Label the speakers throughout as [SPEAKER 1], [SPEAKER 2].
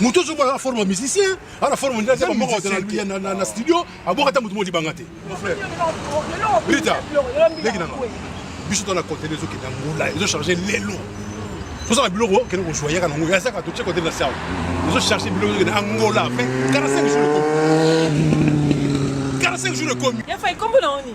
[SPEAKER 1] moto ozo bala forme musicien ala forme ndia zema moko ya na na studio aboka ta moto modi banga te mon frère Rita leki nanga biso to na contenu ezo kenda ngula ezo charger lelo toza na biloko kende kozwa yaka nango ya saka totie kote na sawa ezo charger biloko ezo kende angola pe 45 jours ekomi 45 jours ekomi ya fa ekombo na oni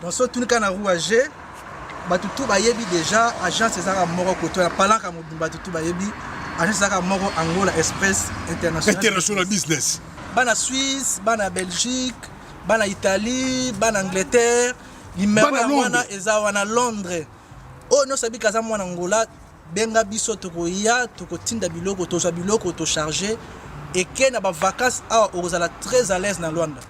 [SPEAKER 1] tosotunika na rouage bato tu bayebi déjà agence ezalaka moko koto ya palaka mobimba bato tu bayebi agence ezalaka moko angola express international business
[SPEAKER 2] bana suisse bana belgique bana italie bana angleterre limero ya wana eza wana londres oyo oh, nyonso abika aza mwana angola benga biso tokoya tokotinda biloko tozwa biloko tocharge eke na bavacance awa okozala très à l'aise na lwanda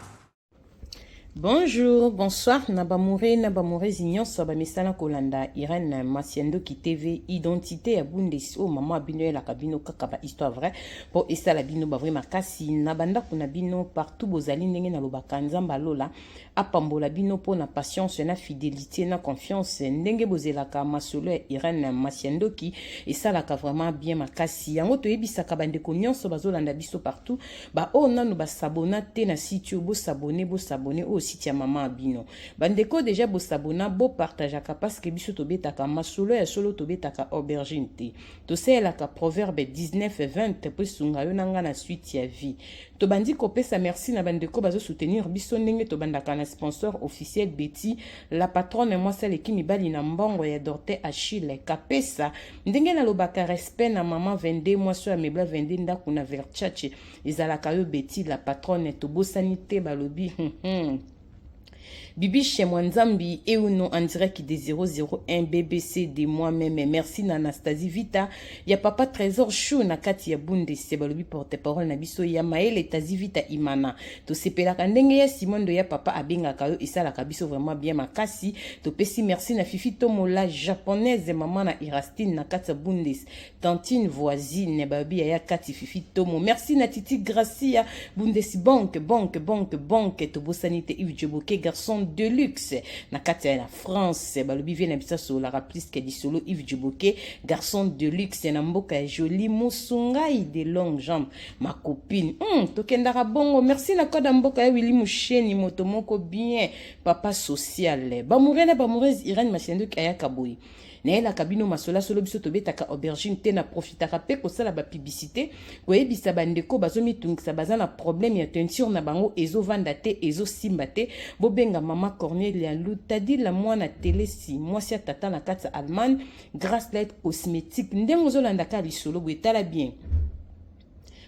[SPEAKER 2] Bonjour,
[SPEAKER 3] bonsoir na bamoure na bamourezi nyonso ya bamesana kolanda Irène Masiandoki TV identité ya Bundes oyo mama bino elaka bino kaka ba histoire vrai mpo esala bino ba vrai makasi na bandako na bino partout bozali ndenge nalobaka Nzambe alola apambola bino mpo na patience na fidelité na confiance ndenge bozelaka masolo ya Irène Masiandoki esalaka vraiment bien makasi yango toyebisaka bandeko nyonso bazolanda biso partout ba oyo nanu ba s'abonna te na site oyo bo s'abonner bo s'abonner oyo site ya mama abino bandeko deja bo s'abonna bo partageaka parce que biso tobetaka masolo ya solo tobetaka aubergine te tosalelaka proverbe 19 20 mpo esunga yo na ngai na suite ya vie tobandi kopesa merci na bandeko bazo soutenir biso ndenge tobandaka na sponsor officiel betty la patronne mwasi aleki mibali na mbongo ya dorte achille kapesa ndenge nalobaka respect na mama 22 mwasi oyo amebla 22 ndako na verchace ezalaka yo beti la patronne tobosani te balobi hmm, hmm. Bibi chez moi Nzambi et ou non en direct des 001 BBC de moi-même. Merci na Anastasie Vita. Ya papa Trésor Chou na kati ya Bundes. Balobi porte-parole na biso ya Maël Tazi Vita Imana. tosepelaka ndenge ya simon ndoya papa abengaka yo esalaka biso vraiment bien makasi topesi merci na fifi tomo la japonaise mama na irastine na kati ya bundes tantine voisine babi yaya kati fifi tomo merci na titi gracia bundes banque banque banque banque tobosani te ive joboke garçon de luxe na kati ya la france balobi vie na biso asololaka plus ke lisolo ive joboke garçon de luxe na mboka ya jolie mosungai de longue jambe ma copine hmm, tokendaka bongo merci na koda mboka ya wili musheni moto moko bien papa social bamoure na bamoureuse irene mashendoki ayaka boye nayelaka bino masolasolo biso tobetaka aubergine te na profitaka mpe kosala bapiblisite koyebisa bandeko bazomitungisa baza na problème ya teinture na bango ezovanda te ezosimba te bobenga mama cornelia lutadila mwana telesi mwasi ya tata na kati ya allemagne grace light cosmétique ndenge ozolandaka lisolo boye tala bien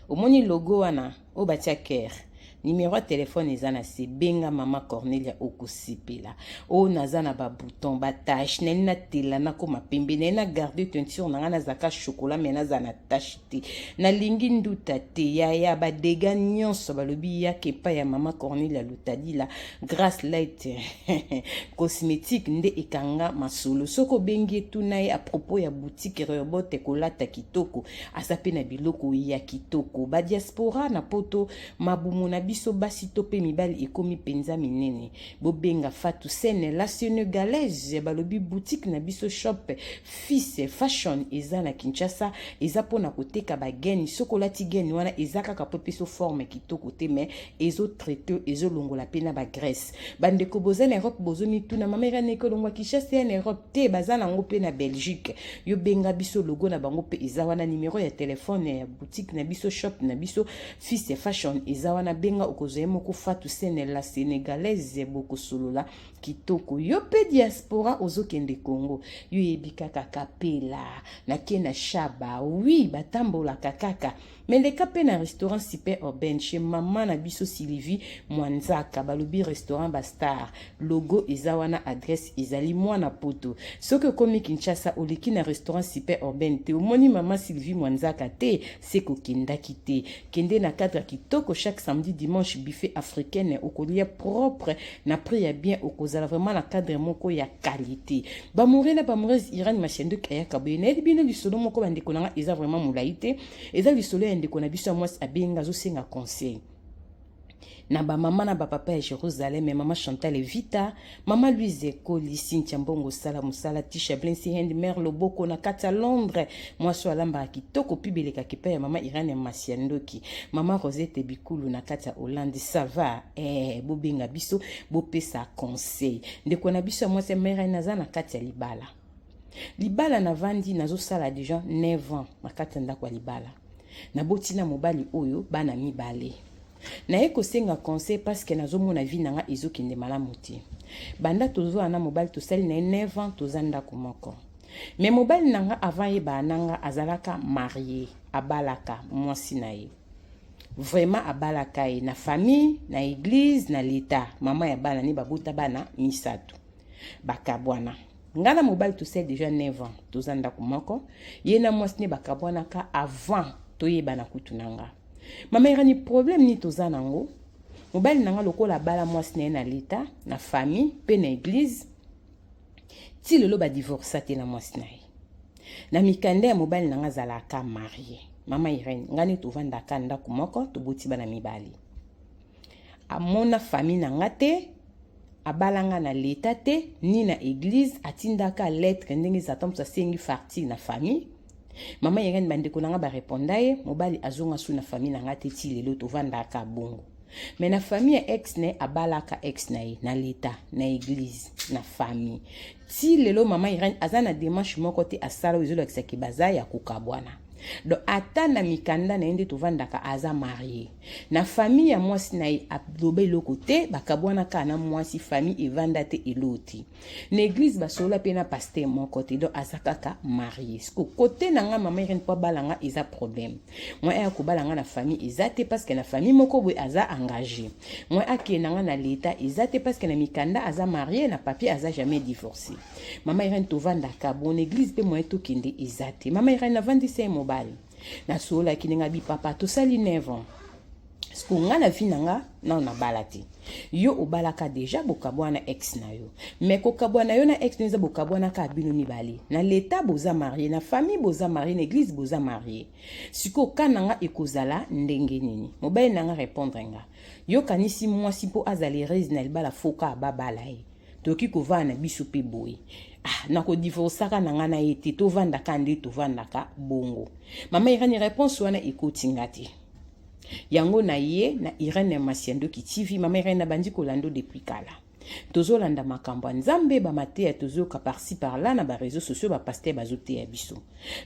[SPEAKER 3] omoni logo wana oyo batia care nimero ya telefone eza na se benga mama cornelia okosepela oyo naza na babouton batache nani natela nakoma pembe naye na garde teinture na ngai nazalaka chokola me naza na tache te nalingi nduta te yaya badega nyonso balobi yaka epai ya mama cornelia lutadila grace light cosmétique nde ekanga masolo soki obengi etuna ye apropos ya boutique reobote kolata kitoko aza mpe na biloko ya kitoko badiaspora na poto mabumu na biso basi to mpe mibali ekomi mpenza minene bobenga fatu sene la senegalaise balobi boutique na biso shop fils fashion eza na kinshasa eza mpo na koteka bageni soki olati geni wana eza kaka mpo epeso forme kitoko te mai ezotraite ezolongola mpe na bagrèce bandeko boza na europe bozomituna mama eraneke olongwa kinshasa ya na europe te baza nango mpe na belgique yo benga biso logo na bango mpe eza wana numero ya telefone ya boutique na biso shop na biso fils ya fashion eza wana benga okozwa ye moko fatu sene la sénégalaise bokosolola kitoko yo mpe diaspora ozokende congo yo yebi kaka kapela nake na shaba wi batambolaka kaka Mais les cas na restaurant super urbaine chez maman na biso Sylvie Mwanzaka balobi restaurant ba star logo eza wana adresse ezali mwana poto soki okomi Kinshasa oleki na restaurant super urbaine te omoni maman Sylvie Mwanzaka te se kokendaki te kende na cadre kitoko chaque samedi dimanche buffet africaine okolia propre na prix ya bien okozala vraiment na cadre moko ya qualité Bamore na bamores Irani Mashanduk ayaka boye nayebi bino lisolo moko bandeko na nga eza vraiment molai te eza lisolo ya ndeko na biso ya mwasi abenga azosenga conseil na bamama na bapapa ya jérusalem mama chantal evita mama louise ekoli sintia mbongo sala mosala tisha blensi hand mare loboko na kati ya londres mwasi oyo alambaka kitoko mpe belekaka epai ya mama irane ya masi ya ndoki mama rosete bikulu na kati ya hollande sava eh, bobenga biso bopesa conseil ndeko na biso ya mwasi ya mera naza na kati ya libala libala navandi nazosala deja 9 ans na kati ya ndako ya libala naboti na mobali oyo bana mibale naye kosenga conseil parceke nazomona vi na nga ezokende malamu te banda tozwaa na mobali tosali na ye 9 ans toza ndako moko me mobali na nga avant yebaa na nga azalaka marie abalaka mwasi na ye vraiment abalaka ye na famille na eglise na leta mama ya bana ni babota bana misato bakabwana ngai na mobali tosali deja 9 ans toza ndako moko ye na mwasi nde bakabwanaka avant toyebana kutu na nga mama erani problème nini toza na yango mobali na nga lokola abala mwasi na ye na leta na famille mpe na eglise ti lelo ba divorce te na mwasi na ye na mikanda ya mobali na nga azalaka marie mama irene ngai nde tovandaka ndako moko toboti bana mibali amona fami na nga te abala nga na leta te ni na eglize atindaka lettre ndenge ezata moto asengi farti na fami mama irene bandeko na nga bareponda ye mobali azonga su na fami na nga te ti lelo tovandaka bongo Mais na famille ya ex ne abalaka ex na ye na l'etat na église na famille ti lelo mama Irène aza na démarche moko te asala oyo ezolakisa ke baza ya kokabwana donc ata na mikanda na ye nde tovandaka aza marie na famille ya mwasi na ye aloba eloko te bakabwanaka na mwasi famille evanda te eloti na eglise basolola mpe na paster moko te donc aza kaka marie siko kote na nga mama irene mpo abala nga eza problème moi aya kobala nga na famille eza te parce que na famille moko boye aza engagé moi akee na nga na leta eza te parce que na mikanda aza marie na papier aza jamais divorcé mama irene tovandaka bon eglise mpe moye tokende eza te mama irene navandisa ye mobali nasololaki ndenge bipapa tosali nevan siko nga na vi na nga nano nabala te yo obalaka deja bokabwa na ex na yo me kokabwa na yo na ex na yo eza bokabwana kaka bino mibale na leta boza marie na famille boza marie na eglise boza marie sikoyo ka na nga ekozala ndenge nini mobali na nga repondre nga yokanisi mwasi mpo azala erese na libala foka babala ye tokoki kovanda na biso mpe boye ah, nakodivorcaka na ngai na ye te tovandaka nde tovandaka bongo mama irene réponse wana ekoti nga te yango na ye na irene masiandoki tv mama irene nabandi kolando depuis kala tozolanda makambo ya nzambe bamateya tozoyoka parci parla na bareseau sociaux bapaster bazoteya biso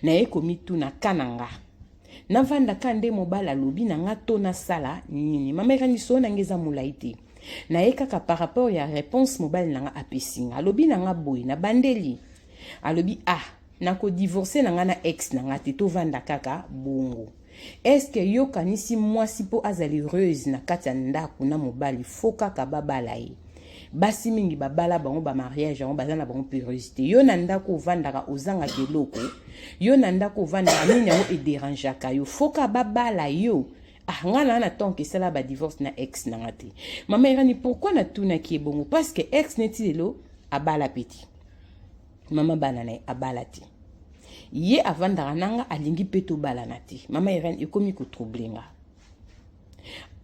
[SPEAKER 3] naye komituna ka na nga navandaka nde mobali alobi na nga to nasala nini mama irene lisolo na nga eza molai te na ye kaka par rapport ya réponse mobali na nga apesi nga alobi na nga boye na bandeli alobi ah nakodivorce na nga na ex na nga te tovanda kaka bongo eske yo kanisi mwasi mpo azala heureuse na kati ya ndako na mobali fo kaka babala ye basi mingi babala bango bamariage yango baza na bango puruse te yo na ndako ovandaka ozangaka eloko yo na ndako ovandaka nini yango ederangeaka yo foka babala yo ah nga na na tanke esala ba divorce na ex na nga te mama irani pourquoi natunaki ye bongo parce que ex neti lelo abala peti mama bana na ye abala te ye avandaka na nga alingi mpe tobalana te mama irani ekomi kotrouble nga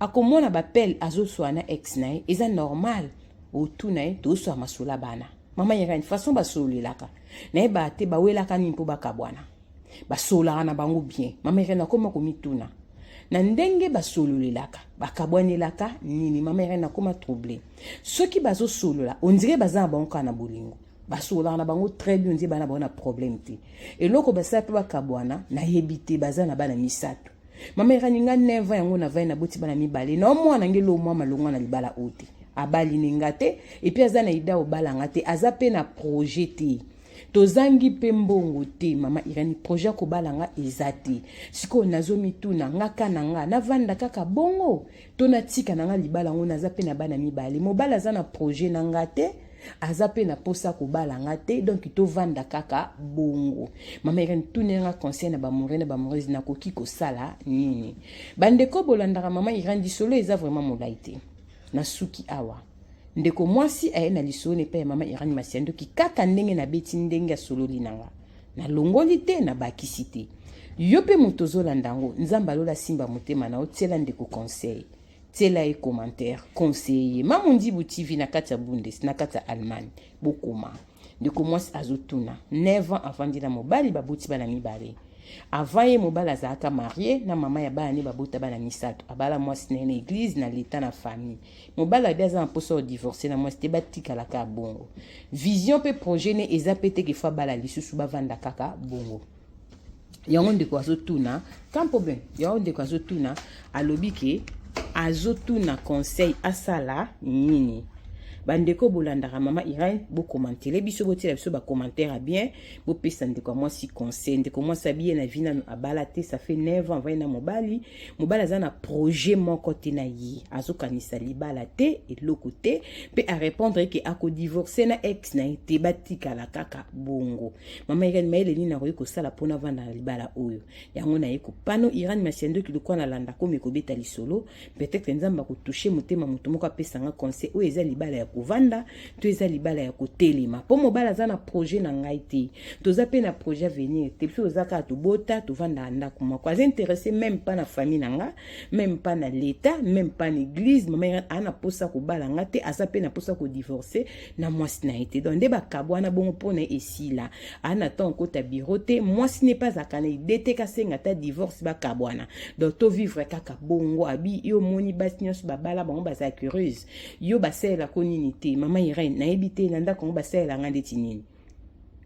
[SPEAKER 3] akomona bapele azoswa na ex na ye eza normal otuna ye toswa masolo ya bana mama irani façon basololelaka nayebaka te bawelaka nini mpo bakabwana basololaka na bango bien mama irene akoma komituna na ndenge basololelaka bakabwanelaka nini mama irene akoma trouble soki bazosolola ondire baza na bango kaka na bolingo basololaka na bango très bien ondire bana bango na problème te eloko basala mpe bakabwana nayebi te baza na bana misato mama irene nga 9 ans yango navai naboti bana mibale na omwana nge lo mwa malongwa na libala oyo te abali ne nga te epuis aza na ida obala nga te aza mpe na projet te tozangi mpe mbongo te mama irani projet ya kobala nga eza te sikoyo nazomituna nga ka na nga navanda kaka bongo to natika na nga libala yango naza mpe na bana mibale mobali aza na projet na nga te aza mpe na mposa kobala nga te donk tovanda kaka bongo mama irani tuna yanga conseil na bamoureux na bamoureuse nakoki kosala nini bandeko bolandaka mama irani lisolo eza vraiment molai te Nasuki awa. Ndeko mwasi aye na lisolo epai ya mama Irani Masiandoki kaka ndenge nabeti ndenge asololi na nga. Nalongoli te, nabakisi te. Yo mpe moto ozolanda yango, Nzambe alola simba motema na yo, tiela ndeko conseil. Tiela ye commentaire, conseiller ye. Mamu Ndibu TV na kati ya Bundes, na kati ya Allemagne. Bokoma. ndeko mwasi azotuna 9 ans avandi na mobali baboti bana mibale avant ye mobali azalaka marie na mama ya bana ne babota bana misato abala mwasi na ye na eglize na leta na famille mobali abi aza na mposa odivorce na mwasi te batikalaka bongo vision mpe projet ne eza mpe te kefa bala lisusu bavanda kaka bongo yango ndeko azotuna sans problème yango ndeko azotuna alobi ke azotuna conseil asala nini bandeko bolandaka mama irene bokomantele biso botiela biso bacommentaire ya bien bopesa ndeko ya mwasi conseil ndeko mwasi abiye na vi nano abala te ça fait 9 ans vai na mobali mobali aza na projet moko te na ye azokanisa libala te eloko te mpe arépondre ke akodivorce na ex na ye te batikala kaka bongo mama irene mayele nini nakoki kosala mpo navanda na libala oyo yango naye kopano irene masiandoki lokola nalanda komi kobeta lisolo peut-être nzambe akotushe motema moto moko apesa nga conseil oyo eza libala ya kovanda to eza libala ya kotelema mpo mobali aza na projet na ngai te toza mpe na projet avenir te biso toza kaka tobota tovandaka ndako moko aza interesse meme mpa na famille na nga meme mpa na leta meme mpa na eglise mama irene aa na mposa kobala nga te aza mpe na mposa kodivorce na mwasi na ye te donc nde bakabwana bongo mpo na esila ana ntango kota biro te mwasi ne mpe azalaka na ide te kasenga ata divorce bakabwana donc tovivre kaka bongo abi yo omoni basi nyonso babala bango baza curieuse yo basalelako nini te mama irene nayebi te na ndako yango basalela nga ndeti nini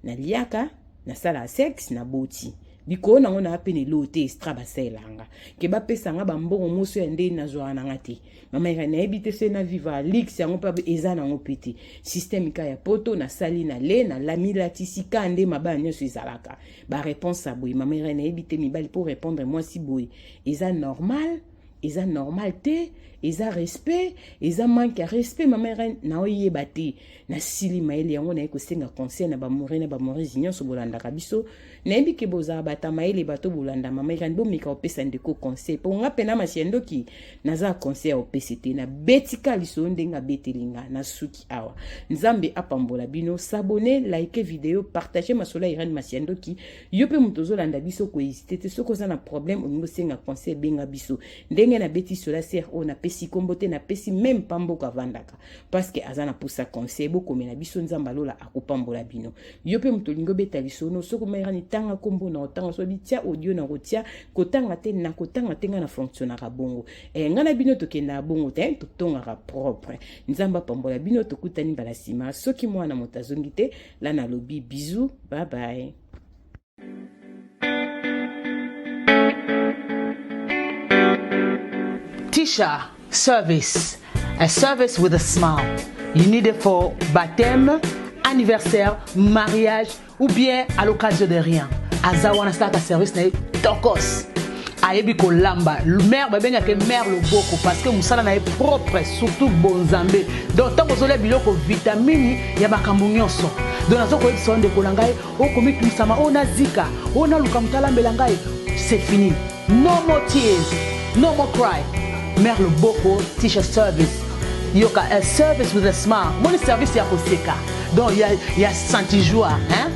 [SPEAKER 3] na liaka na sala sex na boti likolo nango na ape na eloo te estra basalelanga ke bapesa nga bambongo moso ya ndenge nazwaka na nga te mama eka nayebi te se na viva lix yango mpe eza nango mpe te systeme ka ya poto nasali na le na lami latisi ka nde mabaya nyonso ezalaka bareponse ya boye mama eka nayebi te mibali mpo répondre mwasi boye eza normal eza normal te eza respect eza manque ya respect mama irene naoyeba te nasili mayele yango naye kosenga conseil na bamore na bamoresi nyonso bolandaka biso nayebi ke bozala bata mayele bato bolanda mama irene bomeka kopesa ndeko conseil mpo nga mpe na masi ya ndoki naza conseil ya kopesa te nabetika lisolo ndenge abeteli nga nasuki awa nzambe apambola bino sabone like video partage masolo ya irene masi ya ndoki yo mpe moto ozolanda biso kohésite te soki oza na problème olingi osenga conseil benga biso ndenge nabeti sola ser oyo napesi nkombo te napesi meme mpa mboka avandaka parceke aza na mposa conseil bokomela biso nzambe alola akopambola bino yo mpe moto olingi obeta lisono soki omayekani tanga nkombo na otanga soki bitya audio na kotia kotanga te na kotanga te ngai na fonctionnaka bongo e, ngai na bino tokendaka bongo te totongaka propre nzambe apambola bino tokutani mbala nsima soki mwana moto azongi te la nalobi bisous bye bye
[SPEAKER 4] Tisha service a service with a smile you need it for baptême anniversaire mariage ou bien à l'occasion de rien aza wana asalaka service na ye tokos ayebi kolamba mère babenga ke mère loboko parce que musala na ye propre surtout bonzambe donc ntango ozolia biloko vitamini ya makambo nyonso donc nazo koyebisa yo ndeko na ngai okomitungisama oyo nazika oyo naluka moto alambela ngai c'est fini no more tears no more cry mère loboko teacher service yoka a service with a smile moni service ya koseka donc ya, ya santijoire hein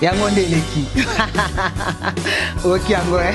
[SPEAKER 4] yango nde eleki oki yango eh?